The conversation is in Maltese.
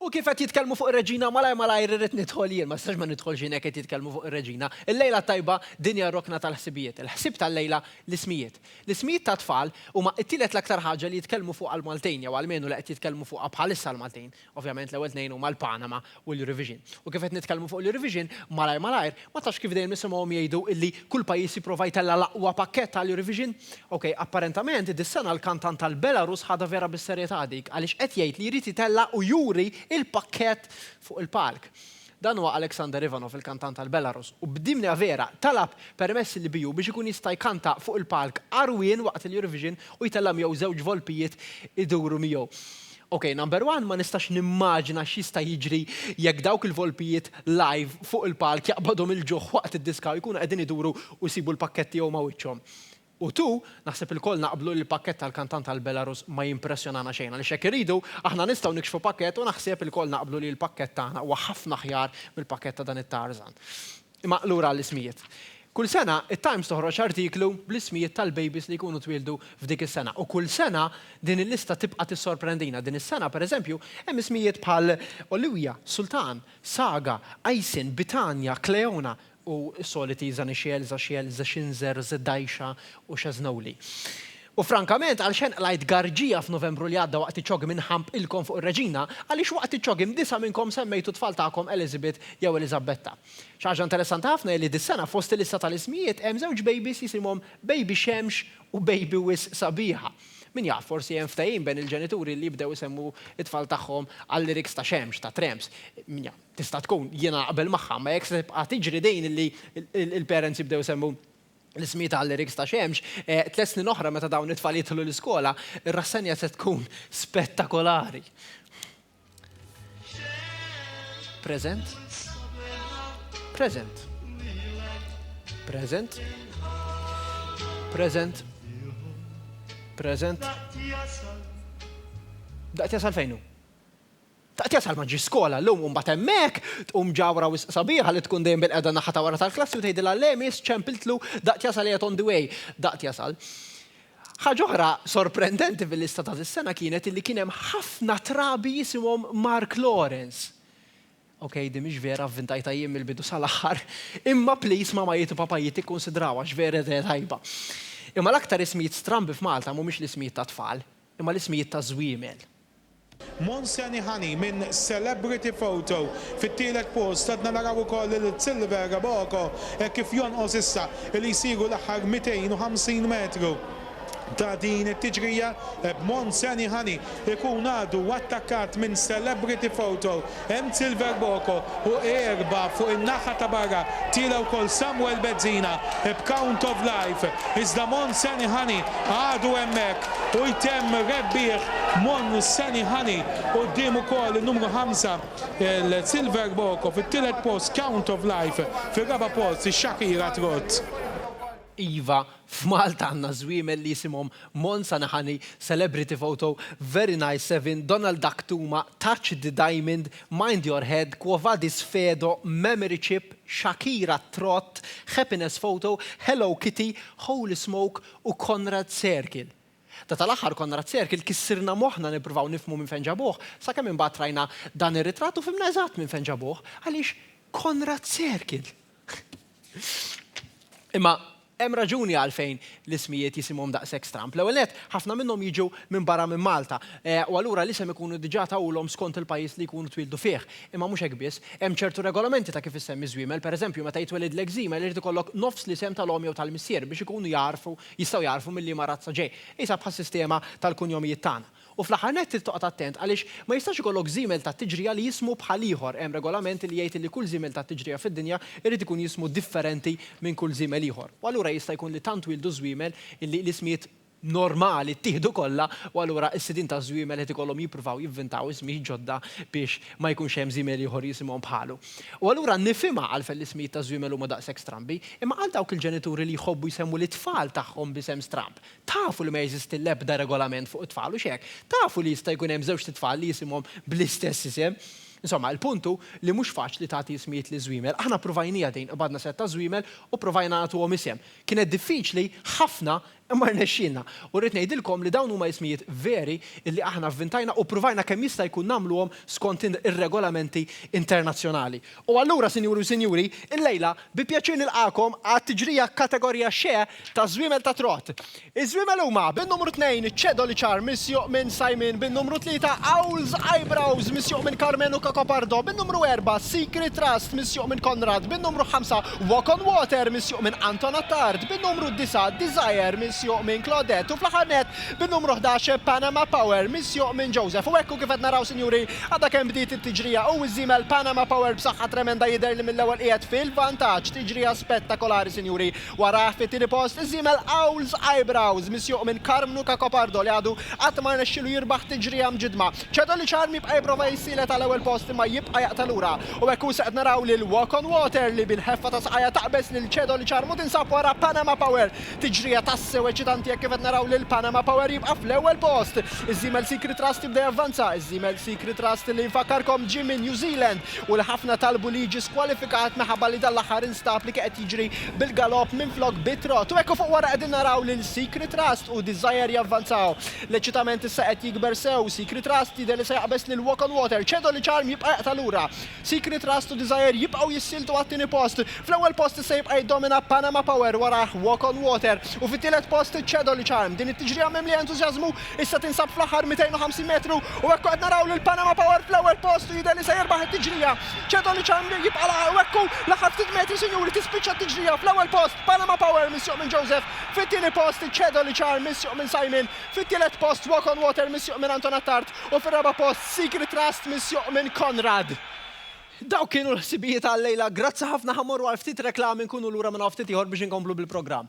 U kif qed jitkellmu fuq ir-Reġina malajr malajr irrid nidħol jien, ma nistax ma nidħolx jien hekk qed jitkellmu fuq ir-Reġina. Il-lejla t-tajba din hija r-rokna tal-ħsibijiet. Il-ħsieb tal-lejla, l-ismijiet. L-ismijiet tat-tfal huma t-tielet l-aktar ħaġa li jitkellmu fuqha l-Maltin jew almenu li qed jitkellmu fuqha bħalissa l-Maltin. Ovvjament l-ewwel tnejn huma l-Panama u l-revision. U kif qed nitkellmu fuq l-revision, malajr malajr, ma tafx kif dejjem nisimgħuhom jgħidu illi kull pajjiż jipprova jtella' l-aqwa pakkett għall-revision. Ok, apparentement, dis-sena l-kantant tal-Belarus ħadha vera bis-serjetà dik, għaliex qed jgħid li jrid jtella' u juri l-pakkett fuq il-palk. Dan huwa Alexander Ivanov, il-kantant tal-Belarus, u b'dimja vera, talab permess il-BU biex ikun jista' jkanta fuq il-palk għarwien waqt il-Eurovision u jtella' miegħu żewġ volpijiet iduru miegħu. Ok number one ma nistax nimmaġina x'jista' jiġri jekk dawk il-volpijiet live fuq il-palk jaqbadhom il-ġuħ waqt id-diska u jkunu qegħdin iduru u jsibu l-pakkett tiegħu ma' wiċċhom. U two, naħseb ilkoll naqblu li l-pakkett tal-kantant tal-Belarus ma jimpressjonana xejn għaliex jekk irridu, aħna nistgħu nikxfu pakkett u naħsieb ilkoll naqblu li l-pakkett tagħna huwa ħafna aħjar mill-pakkett ta' dan it-Tarzan. Imma lura għall-ismijiet. Kull sena, it-Times toħroġ artiklu bl-ismijiet tal-bejbies li jkunu twieldu f'dik is-sena. U kull sena, din il-lista tibqa' tissorprendina. Din is-sena, pereżempju, hemm ismijiet bħal Olivia, Sultan, Saga, Aysin, Bitania, Cleona u s-soliti Zanixiel, Zaxiel, Zexinzer, Zedaixa u Xeznowli. U frankament, għalxenn qlajt garġija f'Novembru li għadda waqt iċ-ċogim inħampqilkom fuq ir-Reġina? Għaliex waqt iċ-ċogim disa' minnkom semmejtu t-tfal tagħkom Elizabeth jew Eliżabbetta? Xi ħaġa interessanti ħafna hi li dis-sena fost il-lista tal-ismijiet hemm żewġ bejbis jisimhom Bejbi Xemx u Bejbi Wisq Sabiħa. Min jaf, forsi hemm ftehim bejn il-ġenituri li jibdew isemmu t-tfal tagħhom għal-lyrics ta' Xemx, ta' Tramps. Min jaf. Tista' tkun. Jiena naqbel magħha. Imma jekk se tibqa' tiġri din li l-parents jibdew isemmu l-ismijiet għal-liriks ta' Xemx, tliet snin oħra meta dawn it-tfal jidħlu l-iskola, ir-rassenja se tkun spettakolari. Present? Present. Present. Present. Present. Daqt jasal fejnu? Taqtiegħa tal ma ġiex skola llum u mbagħad hemmhekk tqum ġawhra wisq sabiħa li tkun dejjem bilqiegħda n-naħa ta' wara tal-klassi u tgħidilha le miss ċempiltlu daqt jasal qiegħed on the way daqt jasal. Ħaġa oħra sorprendenti fil-lista ta' dis-sena kienet illi kien hemm ħafna trabi jisimhom Mark Lawrence. Ok, din mhix vera vvintajtha jien mill-bidu sal-aħħar, imma please mamajjiet u papajjiet ikkunsidrawha għax vera idea tajba. Imma l-aktar ismijiet strambi f'Malta mhumiex l-ismijiet tat-tfal, imma l-ismijiet taż-żwiemel. Mons Kenny Honey minn Celebrity Photo fit-tielet post. Għadna naraw ukoll lil Silver Reboco hekk kif jonqos issa li jsiru l-aħħar 250 metru ta' din it-tiġrija b'Mons Kenny Honey ikun għadu attakkat minn Celebrity Photo Hemm Silver Boko u erba' fuq in-naħa ta' barra tila wkoll Samuel Bezzina b'count of life iżda Monsanny Honey għadu hemmhekk u jtemm rebbieħ Monsanny Honey quddiem ukoll in-numru ħamsa l-Silver Boko fit-tielet post count of life fir-raba' post ix-Shakira Trott. Iva, F'Malta għandna żwiemel li jisimhom Monza Nahani, Celebrity Photo, Very Nice Seven, Donald Duck Tuma, Touch the Diamond, Mind Your Head, Quo Vadis Fedo, Memory Chip, Shakira Trott, Happiness Photo, Hello Kitty, Holy Smoke u Conrad Circle. Da tal-aħħar Conrad Circle kissirna moħħna nippruvaw nifhmu minn fejn ġabuh, sakemm imbagħad rajna dan ir-ritratt u fhimna eżatt minn fejn ġabuh, għaliex Conrad Circle! Imma hemm raġuni għalfejn l-ismijiet jisimhom daqshekk stramb. L-ewwel nett, ħafna minnhom jiġu minn barra minn Malta, eh, u allura l-isem ikunu diġà tawulhom skont il-pajjiż li jkunu twieldu fih. Imma mhux hekk biss. Hemm ċertu regolamenti ta' kif issemmi żwiemel, pereżempju, meta jitwelidlek żiemel irid ikollok nofs l-isem tal-omm jew tal-missier biex ikunu jagħrfu, jistgħu jagħrfu mil-liema razza ġej. Qisha bħas-sistema tal-kunjomijiet tagħna. U fl-aħħar nett trid toqgħod attent għaliex ma jistax ikollok żiemel tat-tiġrija li jismu bħal ieħor. Hemm regolament li jgħid li kull żiemel tat-tiġrija fid-dinja jrid ikun jismu differenti minn kull żiemel ieħor. U allura jista' jkun li tant twieldu żwiemel illi l-ismijiet normali ttieħdu kollha u allura s-sidien taż-żwiemel qed ikollhom jippruvaw jivvintaw ismijiet ġodda biex ma jkunx hemm żiemel ieħor jisimhom bħalu. U allura nifhimha għalfejn l-ismijiet taż-żwiemel huma daqshekk strambi. Imma għal dawk il-ġenituri li jħobbu jsemmu lit-tfal tagħhom b'isem stramb, Tafu li ma jeżisti l-ebda regolament fuq it-tfal, hux hekk? Tafu li jista' jkun hemm żewġt itfal li jisimhom bl-istess isem? Insomma, il-punt hu li mhux faċli tagħti ismijiet liż-żwiemel. Aħna ppruvajnieha din, qbadna sett ta' żwiemel u ppruvajna nagħtuhom isem. Kienet diffiċli ħafna imma rnexxielna. U rrid ngħidilkom li dawn huma ismijiet veri li aħna vvintajna u ppruvajna kemm jista' jkun nagħmluhom skont ir-regolamenti internazzjonali. U allura, Sinjuri u Sinjuri, illejla bi pjaċir nilqagħkom għat-tiġrija Kategorija Xe taż-Żwiemel ta' Trott. Iż-żwiemel huma, bin-numru tnejn, Cedoli Char misjuq minn Simon, bin-numru tlieta, Owl's Eyebrows misjuq minn Karmenu Cacopardo, bin-numru erbgħa, Secret Trust misjuq minn Konrad, bin-numru ħamsa, Walk on Water misjuq minn Anton Attard, bin-numru disa', Desire misjuq minn Claudette u fl-aħħar nett, bin-numru ħdax Panama Power misjuq minn Joseph. U hekk hu kif qed naraw sinjuri, għadha kemm bdiet it-tiġrija u ż-żiemel Panama Power b'saħħa tremenda jidher li mill-ewwel qiegħed fil-vantaġġ. Tiġrija spettakolari sinjuri. Warajh fit-tieni post iż-żiemel Owls Eyebrows misjuq minn Karmnu Cacopardo li għadu qatt ma rnexxielu jirbaħ tiġrija mġiddma. Cedo li Charm jibqa' jipprova jissielet għal ewwel post imma jibqa' jaqta' lura. U hekk hu issa qed naraw lil Walk on Water li bil-ħeffa ta' saqajha taqbeż lil Cedo li Charm u tinsab wara Panama Power. Tiġrija tassew eċitanti hekk kif qed naraw lil Panama Power jibqa' fl-ewwel post. Iż-żiemel Secret Trust jibda javvanza, iż-żiemel Secret Trust li nfakkarkom ġie minn New Zealand u li ħafna talbu li jiġi skwalifikat minħabba li dan l-aħħar instab li kien qed jiġri bil-galopp minflok bit-trott. U hekk u fuq wara qegħdin naraw lil Secret Trust u Desire javvanzaw. L-eċitament issa qed jikber sew, Secret Trust jidher li se jaqbeż lil Walk on Water, Cedo li Charm jibqa' jaqta' lura. Secret Trust u Desire jibqgħu jissieltu għat-tieni post. Fl-ewwel post issa jibqa' jiddomina Panama Power warajh Walk on Water u fit-tielet post Cedo li Charm. Din it-tiġrija mimlija entużjażmu issa tinsab fl-aħħar 250 metru u hekk qed naraw lil Panama Power fl-ewwel post u jidher li se jirbaħ it-tiġrija. Cedo li Charm jibqa' laħaq u hekk hu l-aħħar ftit metri sinjuri tispiċċa t-tiġrija fl-ewwel post Panama Power misjuq minn Joseph, fit-tieni post Cedo li Charm misjuq minn Simon, fit-tielet post Walk on Water misjuq minn Anton Attard. U fir-raba' post, Secret Trust misjuq minn Konrad. Dawk kienu l-ħsibijiet għal-lejla, grazzi ħafna ħa morru għal ftit reklami nkunu lura minn hawn ftit ieħor biex inkomplu bil-programm.